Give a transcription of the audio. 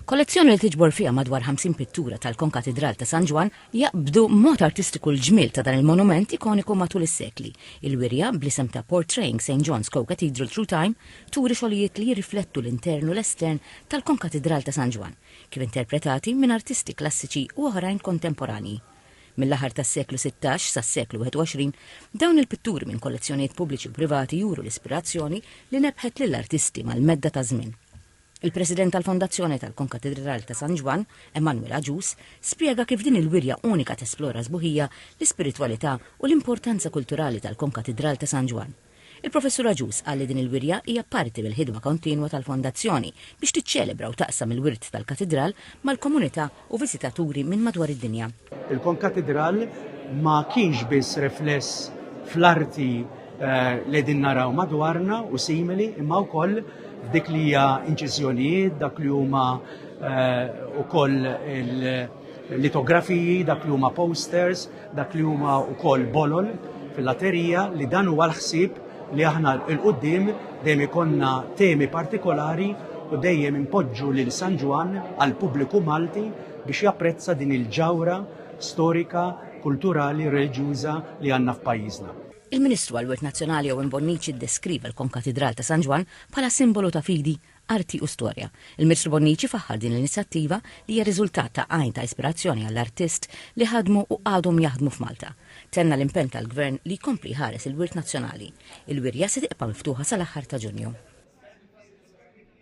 Kollezzjoni li tiġbor fiha madwar 50 pittura tal-Konkatidral ta' San Ġwann jaqbdu mod artistiku l-ġmiel ta' dan il-monument ikoniku matul is-sekli. Il-wirja, bl-isem ta' Portraying St John's Co-Cathedral Through Time, turi xogħlijiet li jirriflettu l-intern u l-estern tal-Konkatidral ta' San Ġwann, kif interpretati minn artisti klassiċi u oħrajn kontemporanji. Mill-aħħar tas-seklu sittax sas-seklu 21, dawn il-pitturi minn kollezzjonijiet pubbliċi u privati juru l-ispirazzjoni li nebbħet lill-artisti mal-medda taż-żmien. Il-President tal-Fondazzjoni tal-Konkatedral ta' San Ġwann, Emmanuel Agius, spjega kif din il-wirja unika tesplora sbuħija, l-ispiritwalità u l-importanza kulturali tal-Konkatedral ta' San Ġwann. Il-Professur Agius qal li din il-wirja hija parti mill-ħidma kontinwa tal-Fondazzjoni biex tiċċelebra u taqsam il-wirt tal-Katidral mal-komunità u viżitaturi minn madwar id-dinja. Il-Konkatidral ma kienx biss rifless fl-arti li qegħdin naraw madwarna u simili imma wkoll f'dik li hija inċiżjonijiet, dak li huma wkoll il, litografiji, dak li huma posters, dak li huma wkoll bolol fil-laterija li dan huwa l-ħsieb li aħna l-qoddim dejjem ikonna temi partikolari u dejjem impoġġu lil San Ġwann għal pubbliku Malti biex japprezza din il-ġawra storika, kulturali, reliġjuża li għandna f'pajjiżna. Il-Ministru għall-Wirt Nazzjonali Owen Bonnici ddeskriva l-Konkatidral ta' San Ġwann bħala simbolu ta' fidi, Arti u Storja. Il-Ministru Bonnici faħħar din l-inizjattiva li hija riżultat ta' għajn ta' ispirazzjoni għall-artist li ħadmu u għadhom jaħdmu f'Malta. Tenna l-impenn tal-Gvern li jkompli jħares il-wirt nazzjonali. Il-wirja se tibqa' miftuħa sal-aħħar ta' Ġunju.